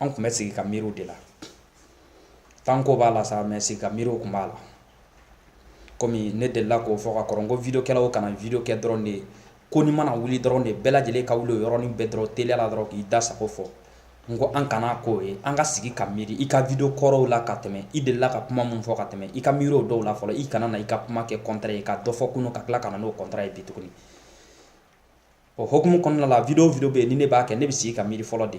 an tun bɛ sigi ka miiri o de la tanko b'a la sa mɛ sigi ka miiri o tun b'a la kɔmi ne delila k'o fɔ ka kɔrɔ ko vidiokɛlaw kana vidio kɛ dɔrɔn de ye ko ni mana wuli dɔrɔn de bɛɛ lajɛlen ka wuli o yɔrɔnin bɛɛ dɔrɔn teliya la dɔrɔn k'i da sago fɔ n ko an kana k'o ye an ka sigi ka miiri i ka vidio kɔrɔw la ka tɛmɛ i delila ka kuma min fɔ ka tɛmɛ i ka miiri o dɔw la fɔlɔ i kana na i ka kuma kɛ kɔntra ye ka dɔ fɔ kunun ka tila ka na n'o kɔntra ye bi tuguni o hokumu kɔnɔna la video video bɛ yen ni ne b'a kɛ ne bɛ sigi ka miiri fɔlɔ de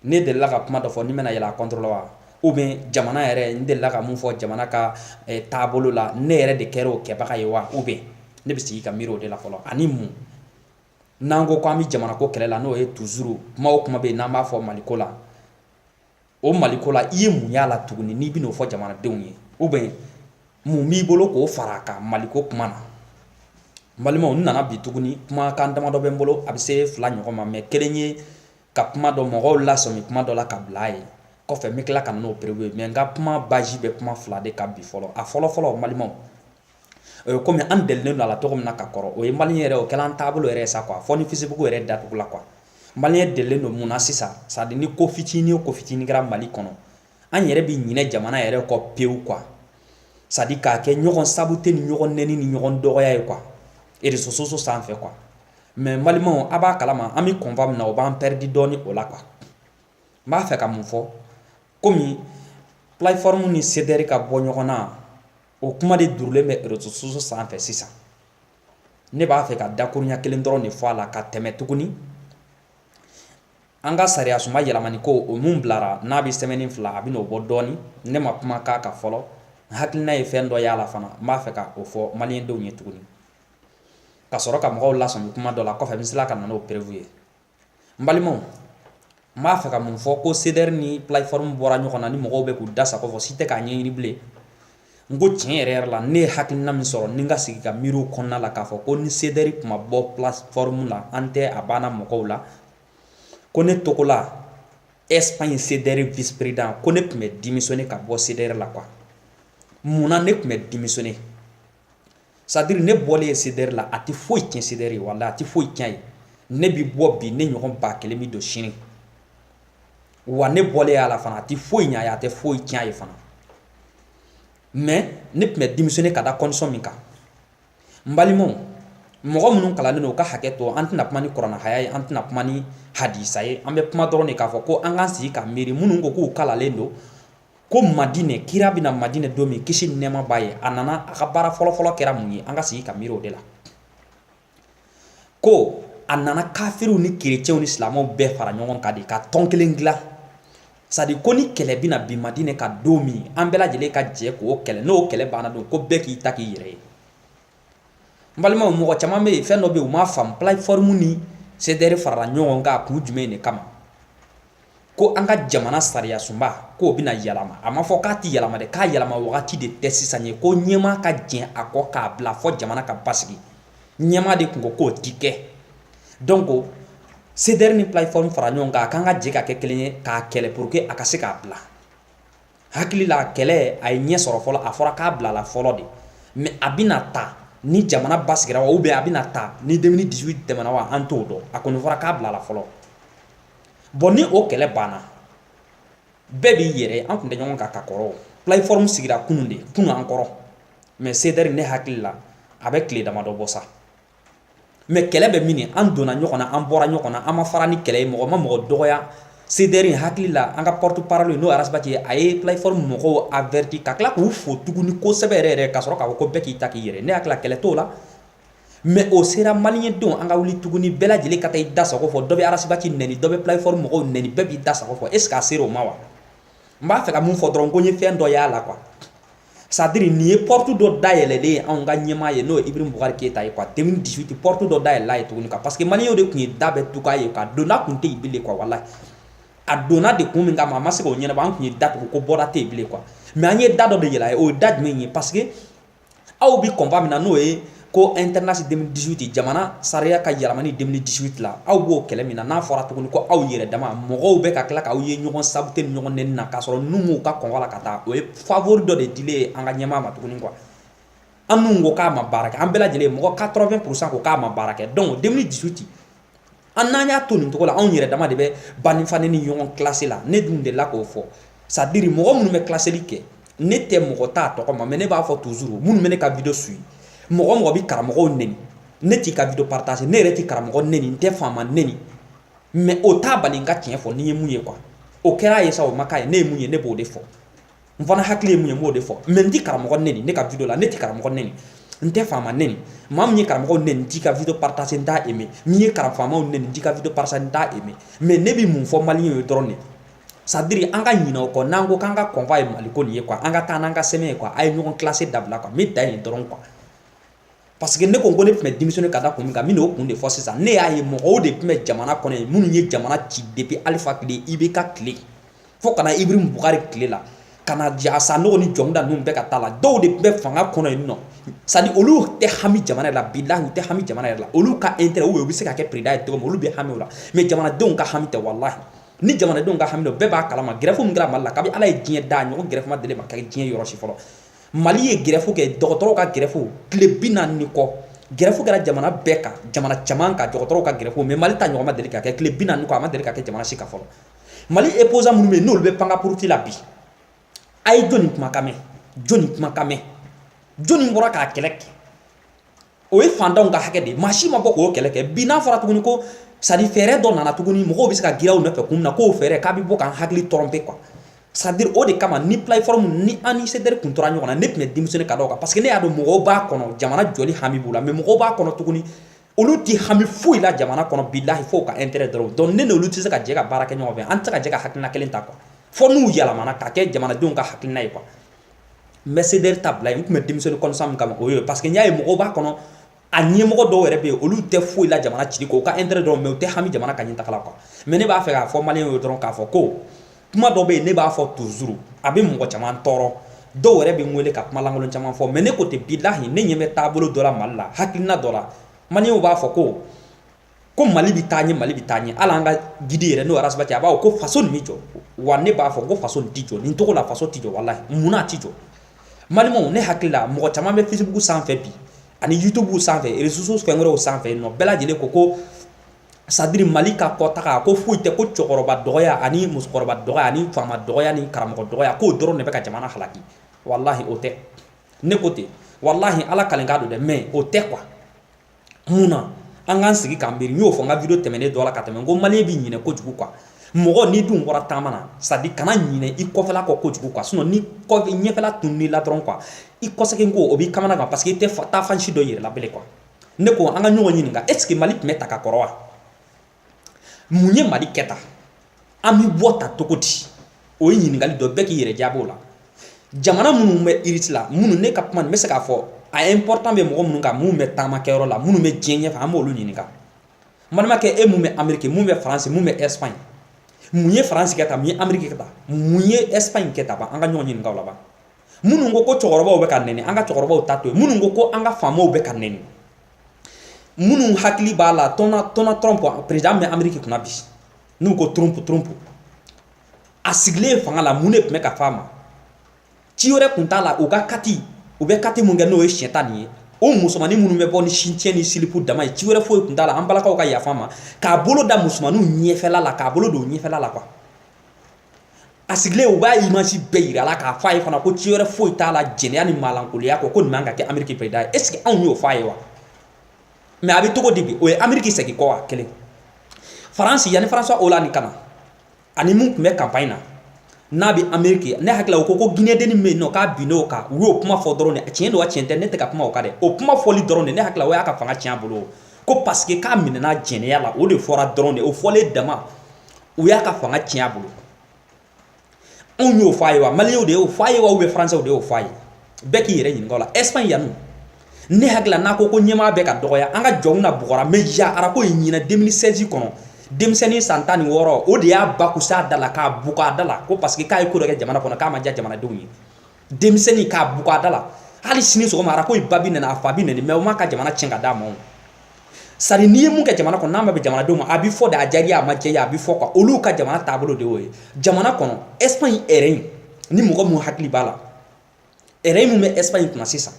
ne delila ka kuma dɔ fɔ ne bɛna yɛlɛ a kɔntɔrɔ la wa ou bien jamana yɛrɛ n delila ka mun fɔ jamana ka eh, taabolo la ne yɛrɛ de kɛra o kɛbaga ye wa ou bien ne bɛ sigi ka miiri o de la fɔlɔ ani mun n'an ko ko an bɛ jamanako kɛlɛ la n'o ye tuzuru kuma o kuma bɛ yen n'an b'a fɔ maliko la o maliko la i ye mun y'a la tuguni n'i bɛn'o fɔ jamanadenw ye ou bien mun b'i bolo k'o fara a kan maliko kuma na balimaw n nana bi tuguni kumakan damadɔ bɛ n bolo a bɛ se fila ɲɔgɔn ma mɛ kelen ye ka kuma dɔ mɔgɔw lasɔmi kuma dɔ la ka bila a ye kɔfɛ n bɛ tila ka na n'o perewu ye mɛ n ka kuma base bɛ kuma fila de kan bi fɔlɔ a fɔlɔfɔlɔ balimaw kɔmi an delilen don a la cogo min na ka kɔrɔ o ye maliyɛn yɛrɛ o kɛla an taabolo yɛrɛ ye sa kuwa fɔ ni fisibugu yɛrɛ datugula quoi maliyɛn delilen don mun na sisan sadiri ni ko fitinin o ko fitinin kɛra mali kɔnɔ an yɛrɛ bɛ ɲinɛ jamana yɛrɛ kɔ pewu quoi sadiri k'a kɛ ɲɔgɔn sabote ni ɲɔgɔn nɛni ni ɲɔgɔn dɔgɔya ye kuwa réseaux sociaux sanfɛ quoi mɛ balimaw a b'a kalama an bɛ combat min na o b'an pɛridi dɔɔnin o la quoi n b'a fɛ ka mun fɔ kɔmi plateforme ni sedɛri ka bɔ ɲɔgɔn na o kuma de durulen bɛ réseaux sociaux sanfɛ sisan ne b'a fɛ ka dakuruɲa kelen dɔrɔn de fɔ a la ka tɛmɛ tuguni an ka sariyasunba yɛlɛmani ko o min bilara n'a bɛ sɛmɛni fila a bɛn'o bɔ dɔɔni ne ma kuma k'a kan fɔlɔ n hakilina ye fɛn dɔ y'a la fana n b'a fɛ ka o fɔ maliyɛndenw ye tuguni ka sɔrɔ ka mɔgɔw lasɔmi kuma dɔ la kɔfɛ n bɛ tila ka na n'o perewu ye n balimaw n b'a fɛ ka mun fɔ ko sedɛri ni plateforme bɔra ɲɔgɔn na ni mɔgɔw bɛ k'u da sago fɔ si tɛ k'a ɲɛɲini bilen n ko tiɲɛ yɛrɛ yɛrɛ la ne ye hakilina min sɔrɔ ni n ka sigi ka miiri o kɔnɔna la k'a fɔ ko ni sedɛri tun ma bɔ plateforme la an tɛ a banna mɔgɔw la ko ne togola espagne sedɛri vice président ko ne tun bɛ démissionner ka bɔ sedɛri la quoi mun na ne tun bɛ démissionner sadiri ne bɔlen ye sedɛri la a tɛ foyi tiɲɛ sedɛri ye walahi a tɛ foyi tiɲɛ ye ne bi bɔ bi ne ɲɔgɔn ba kelen bi don sini wa ne bɔlen y'a la fana a tɛ foyi ɲɛ a ye a tɛ foyi tiɲɛ a ye fana mɛ ne tun bɛ démissionner ka da condition min kan n balimaw mɔgɔ minnu kalannen don u ka hakɛ to an tɛna kuma ni kuranɛ haya ye an tɛna kuma ni hadisa ye an bɛ kuma dɔrɔn de k'a fɔ ko an k'an sigi ka miiri minnu ko k'u kalannen don ko madinɛ kira bɛna madinɛ don min kisi ni nɛɛma b'a ye a nana a ka baara fɔlɔfɔlɔ kɛra mun ye an ka sigi ka miiri o de la ko a nana kafiriw ni kerecɛnw ni silamɛw bɛɛ fara ɲɔgɔn kan de ka tɔn kelen dilan c'est-à-dire ko ni kɛlɛ bɛna bin madinɛ kan don min an bɛɛ lajɛlen ka jɛ k'o kɛlɛ n'o kɛlɛ banna don ko bɛɛ k'i ta k'i yɛrɛ ye n balimaw mɔgɔ caman bɛ yen fɛn dɔ bɛ yen u m'a faamu plateforme ni CDR farala ɲɔgɔn kan a kun jumɛn de kama ko an ka jamana sariyasunba k'o bɛna yɛlɛma a ma fɔ k'a tɛ yɛlɛma dɛ k'a yɛlɛma wagati de tɛ sisan ye ko ɲɛmaa ka jɛn a kɔ k'a bila fo jamana ka basigi ɲɛmaa de tun ko k'o ti kɛ donc CDR ni plateforme fara ɲɔgɔn kan a k'an ka jɛ ka kɛ kelen ye k'a kɛlɛ pour que a ka se k'a bila hakili la kɛlɛ a ye ɲɛ sɔrɔ fɔlɔ a fɔra k'a bilala fɔlɔ de mais a bɛna ta ni jamana basigira wa ou bien a bɛna ta ni deux mille dix-huit tɛmɛna wa an t'o dɔn a kɔni fɔra k'a bilala fɔlɔ bon ni o kɛlɛ banna bɛɛ b'i yɛrɛ an tun tɛ ɲɔgɔn kan ka kɔrɔ plateforme sigira kunun de kunun an kɔrɔ mais CDR ne hakili la a bɛ tile damadɔ bɔ sa mais kɛlɛ bɛ min an donna ɲɔgɔn na an bɔra ɲɔgɔn na an ma fara ni kɛlɛ ye mɔgɔ ma mɔgɔ dɔgɔya CDR hakili la an ka porte-parole n'o ras bath ye a ye plateforme mɔgɔw averti ka tila k'u fo tuguni kosɛbɛ yɛrɛ yɛrɛ ka sɔrɔ k'a fɔ ko bɛɛ k'i ta k'i yɛrɛ ne hakili la kɛlɛ t'o la mais o sera maliyɛn denw an ka wuli tuguni bɛɛ lajɛlen ka taa i da sago fɔ dɔ bɛ ras bath neni dɔ bɛ plateforme mɔgɔw neni bɛɛ b'i da sago fɔ est-ce qu'a sera o ma wa n b'a fɛ ka mun fɔ dɔrɔn ko n ye fɛn dɔ y'a la qu c'est-à-dire nin ye porte dɔ dayɛlɛlen ye anw ka ɲɛmaa ye n'o ye ibrahim bukari keyita ye quoi deux mille dix-huit porte dɔ dayɛlɛl'a ye tuguni quoi parce que maliyɛnw de tun ye da bɛɛ tugu a ye quoi donda tun tɛ yen bilen quoi walayi a donna de kun min kama a ma se k'o ɲɛnabɔ an tun ye da tugu ko bɔda tɛ yen bilen quoi mais an ye da dɔ de yɛlɛ a ye o ye da jumɛn ye parce que aw bi combat min na n'o ye ko e tɛsi dusu tɛ jamana sariya ka jamana dusu tɛ tila aw b'o kɛlɛ min na n'a fɔra tuguni ko aw yɛrɛ dama mɔgɔw bɛ ka tila k' awaw ye ɲɔgɔn sa tɛ ɲɔgɔn ni na k'a sɔrɔ n b'u ka kɔn la ka taa o ye faforo dɔ de dilen ye an ka ɲɛmaa ma tuguni kuwa an minnu ko k'a ma baara kɛ an bɛɛ lajɛlen mɔgɔ ka tɔrɔ bɛ psa ko k'a ma baara kɛ dɔn dusu tɛ an n'an y'a to nin cogo la anw yɛrɛ dama de bɛ ba neni fa neni ɲɔgɔn kilasi la ne dun delila k'o fɔ c'est-à-dire mɔgɔ minnu bɛ kilaseli kɛ ne tɛ mɔgɔ ta tɔgɔ ma mais ne b'a fɔ toujours minnu bɛ ne ka video suivre mɔgɔ mɔgɔ bɛ karamɔgɔw neni ne t'i ka video partager ne yɛrɛ tɛ karamɔgɔ neni n tɛ faama neni mais o t'a bali n ka tiɲɛ fɔ ne ye mun ye quoi o kɛra a ye sa o ma k'a ye ne ye mun ye ne b'o de fɔ n fana hakili ye mun ye n b'o de fɔ mais n ti karamɔgɔ neni ne ka video la ne ti karamɔgɔ neni n tɛ faama neni maa min ye karamɔgɔ neni n t'i ka video partager n t'a aimé min ye karam faamaw neni n t'i ka video partager n t'a aimé mais ne bi mun fɔ maliyɛnw ye dɔrɔn de c'est-à-dire an ka ɲinɛ o kɔ n'an ko k'an ka combat ye maliko nin ye quoi an ka taa n'an ka sɛmɛ ye quoi a ye ɲɔgɔn kilase dabila quoi n bɛ dan yen dɔrɔn quoi parce que ne ko ko ne tun bɛ démissionner ka da kun min kan n bɛna o kun de fɔ sisan ne y'a ye mɔgɔw de tun bɛ jamana kɔnɔ yen minnu ye jamana ci depuis alifa tile IBK tile fo ka na ibrahim bukari tile la ka na sanogo ni jɔnda ninnu bɛɛ ka taa la dɔw de tun bɛ fanga kɔnɔ yen nɔ c'est à dire olu tɛ hami jamana yɛrɛ la bilahi u tɛ hami jamana yɛrɛ la olu ka intérêt ou bien u bɛ se ka kɛ président ye cogo min olu bɛ hami o la mais jamanadenw ka hami tɛ walahi ni jamanadenw ka hami don bɛɛ b'a kalama grève min kɛra mali la kabi ala ye diɲɛ da ɲɔgɔn grève ma deli ka kɛ diɲɛ yɔrɔ si fɔlɔ Mali ye grève kɛ dɔgɔtɔrɔw ka grève tile bi naani ni kɔ grève kɛra jamana bɛɛ kan jamana caman kan dɔgɔtɔrɔw ka grève mais mali ta ɲɔgɔn ma deli ka kɛ tile bi naani ni kɔ a ma deli ka kɛ jamana si kan fɔlɔ mali opposants minnu bɛ n'olu bɛ pan ka puruti la bi a ye jɔnni kumakan mɛn jɔnni kumakan mɛn jɔnni bɔra k'a kɛlɛ kɛ o ye fantanw ka hakɛ de ye maa si ma bɔ k'o kɛlɛ kɛ bi n'a fɔra tuguni ko c'est à dire fɛɛrɛ dɔ nana tuguni mɔgɔw bɛ se ka girin aw nɔfɛ kun min na k'o fɛɛrɛ k'a bɛ bɔ k'an hakili tromper quoi c'est à dire o de kama ni plateforme ni an ni CDR kun tora ɲɔgɔn na ne tun bɛ démissionner ka da o kan parce que ne y'a dɔn mɔgɔw b'a kɔnɔ jamana jɔli hami b'u la mais mɔgɔw b'a kɔnɔ tuguni olu ti hami foyi la jamana kɔnɔ bilahi fo u ka intérêt dɔrɔn donc ne n'olu tɛ se ka jɛ ka baara kɛ ɲɔgɔn fɛ an tɛ se ka jɛ ka hakilina kelen ta quoi fo n'u yɛlɛmana ka kɛ jamanadenw ka hakilina ye quoi n bɛ CDR ta bila n tun bɛ démissionner constat min kama o ye parce que n y'a ye mɔgɔw b'a kɔnɔ a ɲɛmɔgɔ dɔw yɛrɛ bɛ yen olu tɛ foyi la jamana cili kɔ u ka intérêt dɔrɔn mais u tɛ hami jamana ka ɲɛtaga la quoi mais ne b'a fɛ k'a fɔ maliyɛnw ye dɔrɔn k'a fɔ ko kuma dɔ bɛ yen ne b'a fɔ toujours a bɛ mɔgɔ caman tɔɔrɔ dɔw yɛrɛ bɛ n wele ka kuma lankolon caman fɔ mais ne ko ten bilahi ne ɲɛ bɛ taabolo dɔ la mali la hakilina dɔ la maliyɛnw b'a fɔ ko ko mali bɛ taa ɲɛ mali bɛ taa ɲɛ hali an ka guide yɛrɛ n'o ye ras bath ye a b'a fɔ ko faso nin bɛ jɔ wa ne b'a fɔ ko faso tɛ jɔ nin cogo la faso tɛ jɔ walahi munna a tɛ jɔ maliyɛnw ne hakili la mɔgɔ caman bɛ facebook sanfɛ bi ani youtube sanfɛ réseaux sociaux fɛn wɛrɛw sanfɛ nɔ bɛɛ lajɛlen ko ko c'est à dire mali ka kɔtaga ko foyi tɛ ko cɛkɔrɔba dɔgɔya ani musokɔrɔba dɔgɔya ani faama dɔgɔya ni karamɔgɔ dɔgɔya k'o dɔrɔn de bɛ ka jamana halaki walahi o tɛ ne ko ten walahi ala kalikan don dɛ mais o tɛ quoi mun na an k'an sigi k'an miiri n y'o fɔ n ka video tɛmɛnen dɔ la ka tɛmɛ n ko maliyɛnw bɛ ɲinɛ kojugu quoi mɔgɔ n'i dun bɔra taama na c'est à dire kana ɲinɛ i kɔfɛla kɔ kojugu quoi sinon ni ɲɛfɛla tunun'i la dɔrɔn quoi i kɔsegin ko o b'i kamanagan parce que i tɛ taa fan si dɔn yɛrɛ la bilen quoi ne ko an ka ɲɔgɔn ɲininka est ce que mali tun bɛ tan ka kɔrɔ wa mun ye mali kɛ tan an bɛ bɔ tan cogo di o ye ɲininkali dɔ bɛɛ k'i yɛrɛ jaabi o la jamana minnu bɛ iriti la minnu ne ka kuma n bɛ se k'a fɔ a important bɛ mɔgɔ minnu kan minnu bɛ taamakɛyɔrɔ la minnu bɛ diɲɛ ɲɛfɛ an b'olu ɲininka n balimakɛ e mun bɛ ameriki mun bɛ faransi mun bɛ ɛsipaɲi mun ye faransi kɛ tan mun ye ameriki kɛ tan mun ye ɛsipaɲi kɛ tan ban an ka ɲɔgɔn ɲininka o la ban minnu ko ko cɛkɔrɔbaw bɛ ka nɛni an ka cɛkɔrɔbaw ta to yen minnu ko ko an ka faamaw bɛ ka nɛni minnu hakili b'a la donald donald trump perezidan bɛ ameriki kunna bi n'u ko trump trump a sigilen fanga la mun de tun bɛ ka fɔ a ma ci wɛrɛ tun t'a la u ka catch u bɛ catch min kɛ n'o ye siɲɛta nin ye o musomannin minnu bɛ bɔ ni sutiyɛn ni silipu dama ye ci wɛrɛ foyi tun t'a la an balakaw ka yafa n ma k'a bolo da musomanninw ɲɛfɛla la k'a bolo don ɲɛfɛla la kuwa a sigilen u b'a imazi bɛɛ yira a la k'a fɔ a ye fana ko ci wɛrɛ foyi t'a la jɛnɛya ni maalankolonya kɔ ko nin man ka kɛ ameriki perezidan ye est ce que anw y'o fɔ a ye wa mɛ a bɛ cogo di bi o ye ameriki segin kɔ wa kelen faransi yanni françois hollande ka na a ni min tun bɛ kanpaɲi na n'a bɛ ameriki ne hakili la u ko ko ginɛ dennin min bɛ yen n'o k'a binn'o kan u y'o kuma fɔ dɔrɔn de tiɲɛ don wa tiɲɛ tɛ ne tɛ ka kuma o kan dɛ o kuma fɔli dɔrɔn de ne hakili la o y'a ka fanga tiɲɛ a bolo ko parce que k'a minɛna jɛnɛya la o de fɔra dɔrɔn de o fɔlen dama u y'a ka fanga tiɲɛ a bolo anw y'o fɔ a ye wa maliyɛnw de y'o fɔ a ye wa ou bien faransɛw de y'o fɔ a ye bɛɛ k'i yɛrɛ ɲininka o la ɛsipaɲi yanni ne hakili la n'aw ko ko ɲɛmaa bɛ ka dɔgɔya an ka jɔnw na bugɔra mariano rajoy ɲinan 2016 kɔnɔ denmisɛnnin san tan ni wɔɔrɔ o de y'a bɔkise a da la k'a bugɔ a da la ko parce que k'a ye ko dɔ kɛ jamana kɔnɔ k'a ma diya jamanadenw ye denmisɛnnin k'a bugɔ a da la hali sini sɔgɔma rajoy ba bɛ nɛni a fa bɛ nɛni mɛ o m'a ka jamana tiɲɛ ka d'a ma sadi n'i ye min kɛ jamana kɔnɔ n'a ma bɛn jamanadenw ma a bɛ fɔ dɛ a diyar'i ye a ma diy'i ye a bɛ fɔ ko olu ka jamana taabolo de y'o ye jamana kɔnɔ espagne rey in ni mɔgɔ min hakili b'a la rey min bɛ espagne kunna sisan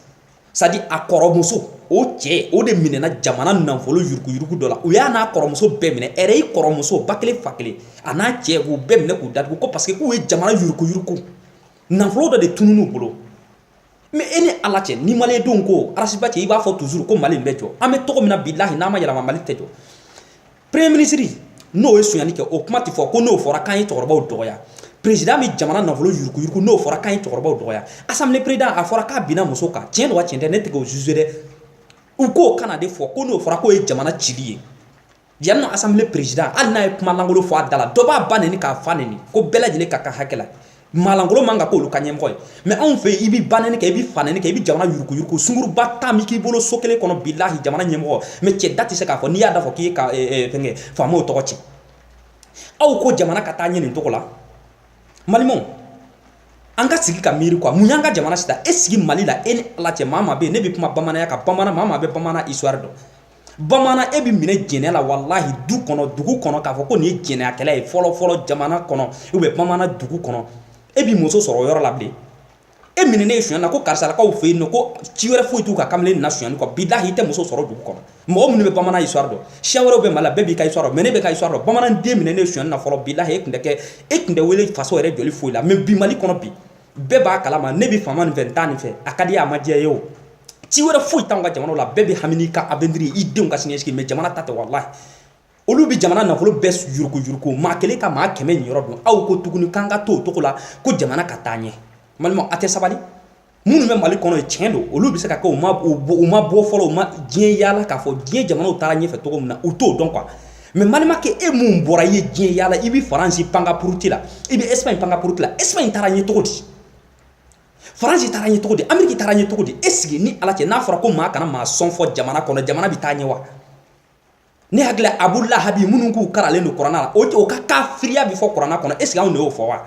sadi a kɔrɔmuso o cɛ o de minɛna jamana nafolo yuruguyurugu dɔ la u y'a n'a kɔrɔmuso bɛɛ minɛ rey kɔrɔmuso ba kelen fa kelen a n'a cɛ k'u bɛɛ minɛ k'u datugu ko parce que k'u ye jamana yuruguyurugu nafolo dɔ de tunun u bolo mɛ e ni ala cɛ ni malidenw ko ras bath cɛ i b'a fɔ tuzuru ko mali bɛ jɔ an bɛ cogo min na bilahi n'an ma yɛlɛma mali tɛ jɔ premier minisiri n'o ye sonyali kɛ o kuma tɛ fɔ ko n'o fɔra k'an ye cɛkɔrɔbaw dɔgɔya perezidan bɛ jamana nafolo yuruguyurugu n'o fɔra k'an ye cɛkɔrɔbaw dɔgɔya asanbile perezidan a fɔra k'a binna muso kan tiɲɛ don wa tiɲɛ tɛ ne tɛ k'o zuze dɛ u k'o kana de fɔ ko n'o fɔra k'o ye jamana cili ye Yanni asanbile perezidan hali n'a ye kumalankolon fɔ a da la dɔ b'a ba nɛni k'a fa nɛni ko bɛɛ lajɛlen ka ka hakɛ la maalankolon man ka kɛ olu ka ɲɛmɔgɔ ye mɛ anw fɛ i bɛ banɛni kɛ i bɛ fanɛni kɛ i bɛ jamana yuruguyurugu sungurunba tan bɛ k'i bolo so kelen kɔnɔ bilahi jamana ɲɛmɔgɔ mɛ cɛ da tɛ se k'a fɔ n'i y'a fɔ k'i ka fɛn faama tɔgɔ tiɲɛ aw ko jamana ka taa ɲɛ nin cogo la maliyɛnw an ka sigi ka miiri kuwa mun y'an ka jamana sita e sigi mali la e ni ala cɛ maa bɛ yen ne bɛ kuma bamananya kan bamanan maa bɛ bamanan iwari dɔn bamanan e bɛ minɛ jɛnɛ la walahi du kɔnɔ dugu kɔnɔ k'a fɔ ko nin ye jɛnɛyakɛla ye fɔlɔ fɔlɔ jamana kɔnɔ ou bien bamanan dugu kɔnɔ e b'i muso sɔrɔ o yɔrɔ la bilen e minɛnen ye sonyali la ko karisalakaw fɛ yen nɔ ko ci wɛrɛ foyi t'u ka kamalen nin na sonyali kɔ bilahi i tɛ muso sɔrɔ dugu kɔnɔ mɔgɔ minnu bɛ bamanan histoire dɔn siya wɛrɛw bɛ mali la bɛɛ b'i ka histoire dɔn mais ne bɛ n ka histoire dɔn bamanan den minɛnen ye sonyali la fɔlɔ bilahi e tun tɛ kɛ e tun tɛ wele faso yɛrɛ jɔli foyi la mais bi mali kɔnɔ bi bɛɛ b'a kalama ne bɛ faama nin fɛ n t'a nin fɛ a ka di ye a ma diya ye o ci wɛrɛ foyi t'anw ka jamana la bɛɛ bɛ hami n'i ka avenir i denw ka sinisigi mais jamana ta tɛ walahi olu bɛ jamana nafolo bɛɛ yurukuyuruku maa kelen ka maa kɛmɛ niyɔrɔ dun aw ko tuguni k'an ka to o cogo la ko jamana ka taa ɲɛ n balimaw a tɛ sabali minnu bɛ mali kɔnɔ yen tiɲɛ don olu bɛ se ka kɛ u ma bɔ fɔlɔ u ma diɲɛ yaala k'a fɔ diɲɛ jamanaw taara ɲɛfɛ cogo min na u t'o dɔn quoi mais n balimakɛ e min bɔra i ye diɲɛ yaala i bɛ faransi pankapuruti la i bɛ espagne pankapuruti la espagne taara ɲɛ cogo di faransi taara ɲɛ cogo di ameriki taara ɲɛ cogo di est ce que i ni ala cɛ n'a fɔra ko maa kana maa sɔn fɔ jamana kɔnɔ jamana bɛ taa ɲɛ wa ne hakili la abu lahabi minnu k'u karalen don kuranna la o ka kafiriya bɛ fɔ kuranna kɔnɔ est ce que anw de y'o fɔ wa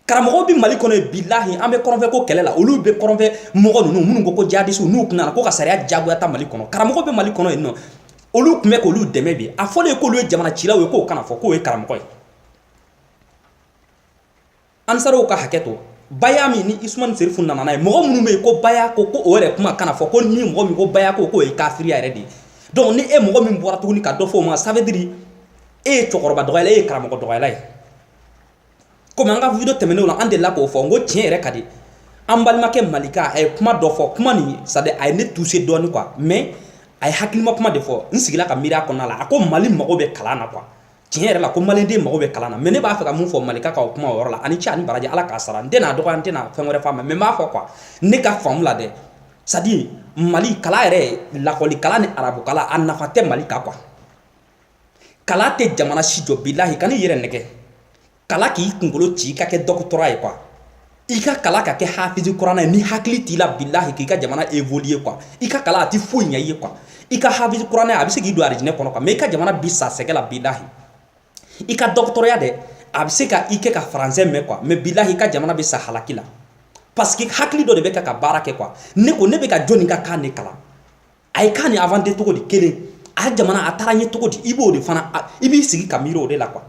karamɔgɔw bɛ mali kɔnɔ yen bilahi an bɛ kɔrɔnfɛ ko kɛlɛ la olu bɛ kɔrɔnfɛ mɔgɔ ninnu minnu ko ko jihadisiw n'u tun nana ko ka sariya jagoya ta mali kɔnɔ karamɔgɔ bɛ mali kɔnɔ yen nɔ olu tun bɛ k'olu dɛmɛ bi a fɔlen k'olu ye jamana cilaw ye k'o kana fɔ k'o ye karamɔgɔ ye ansaraw ka hakɛ to baya min ni usuman serifu nana n'a ye mɔgɔ minnu bɛ yen ko baya ko ko o yɛrɛ kuma kana fɔ ko ni mɔgɔ min ko baya ko k'o ye kafiriya yɛrɛ de ye donc ni e mɔgɔ min bɔra tuguni ka dɔ fɔ o ma ça veut dire e ye cɛkɔrɔba dɔgɔyala e ye karamɔgɔ dɔgɔyala ye komi an ka video tɛmɛnenw la an delila k'o fɔ n ko tiɲɛ yɛrɛ ka di an balimakɛ malika a ye kuma dɔ fɔ kuma nin c'est à dire a ye ne touche dɔɔni quoi mais a ye hakilima kuma de fɔ n sigila ka miiri a kɔnɔna la a ko mali mago bɛ kalan na quoi tiɲɛ yɛrɛ la ko maliden mago bɛ kalan na mais ne b'a fɛ ka mun fɔ malika ka o kuma o yɔrɔ la a ni ce a ni baraji ala k'a sara n tɛna a dɔgɔya n tɛna fɛn wɛrɛ f'a ma mais n b'a fɔ quoi ne ka faamu la dɛ c'est à dire mali kalan yɛrɛ lakɔli kalan ni arabu kalan a nafa tɛ mali kan quoi kalan tɛ jamana si jɔ bilahi kan'i yɛrɛ nɛgɛn kalan k'i kunkolo ci ka kɛ dɔgɔtɔrɔ ye quoi i ka kalan ka kɛ hafizi kuranna ye ni hakili t'i la bilahi k'i ka jamana évoluer quoi i ka kalan a tɛ foyi ɲɛ i ye quoi i ka hafizi kuranna a bɛ se k'i don arijinɛ kɔnɔ quoi mais i ka jamana bi sa sɛgɛn la bilahi i ka dɔgɔtɔrɔya dɛ a bɛ se ka i kɛ ka faransɛ mɛn quoi mais bilahi i ka jamana bɛ sa halaki la parce que hakili dɔ de bɛ ka ka baara kɛ quoi ne ko ne bɛ ka jɔni ka kan de kalan a ye kan nin inventer cogo di kelen a jamana a taara ɲɛ cogo di i b'o de fana i b'i sigi ka miiri o de la quoi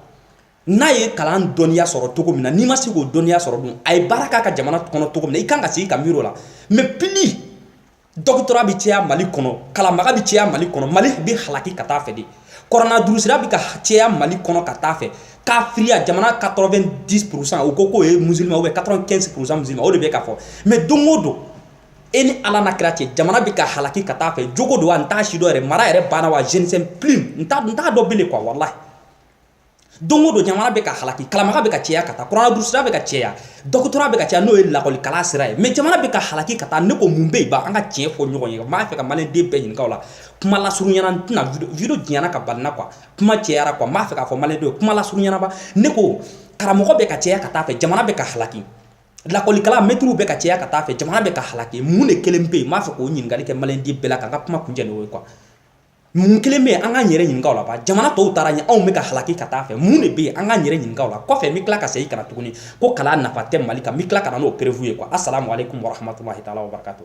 n'a ye kalan dɔnniya sɔrɔ cogo min na n'i ma se k'o dɔnniya sɔrɔ dun a ye baara k'a ka jamana kɔnɔ cogo min na i kan ka sigi ka miiri o la mais plus dɔgɔtɔrɔya bɛ caya mali kɔnɔ kalanbaga bɛ caya mali kɔnɔ mali bɛ halaki ka taa fɛ de kuranna durusila bɛ ka caya mali kɔnɔ ka taa fɛ kafiriya jamana 90 pourcent u ko k'o ye musulman ou bien 95 pourcent musulman o de bɛ ka fɔ mais don o don e ni ala n'a kira cɛ jamana bɛ ka halaki ka taa fɛ jogo don an t'a si dɔn yɛrɛ mara yɛrɛ banna wa je ne sais plus n t'a dɔn bilen kuwa walahi don o don jamana bɛ ka halaki kalanbaga bɛ ka cɛya ka taa kurana durusila bɛ ka cɛya dɔgɔtɔrɔ bɛ ka cɛya n'o ye lakɔli kalan sira ye mɛ jamana bɛ ka halaki ka taa ne ko mun bɛ yen ba an ka tiɲɛ fɔ ɲɔgɔn ye n b'a fɛ ka maliden bɛɛ ɲininka o la kuma lasurunya na n tɛna video janya ka balina kuwa kuma cɛyara kuwa n b'a fɛ k'a fɔ maliden kuma lasurunya na ba ne ko karamɔgɔ bɛ ka cɛya ka taa fɛ jamana bɛ ka halaki lakɔli kalan mɛtiriw bɛ ka caya ka taa fɛ jamana bɛ ka halaki mun de kelen bɛ yen n b'a fɛ k'o ɲininkali kɛ maliden bɛɛ la ka n ka kuma kuncɛ n'o ye kuwa mun kelen bɛ yen an k'an yɛrɛ ɲininka o la ba jamana tɔw taara ɲɛ anw bɛ ka halaki ka taa fɛ mun de bɛ yen an k'an yɛrɛ ɲininka o la kɔfɛ n bɛ tila ka segin ka na tuguni ko kalan nafa tɛ mali kan n bɛ tila ka na n'o preuve ye kuwa asalamu aleykum warahmatulahi taala wabarakatu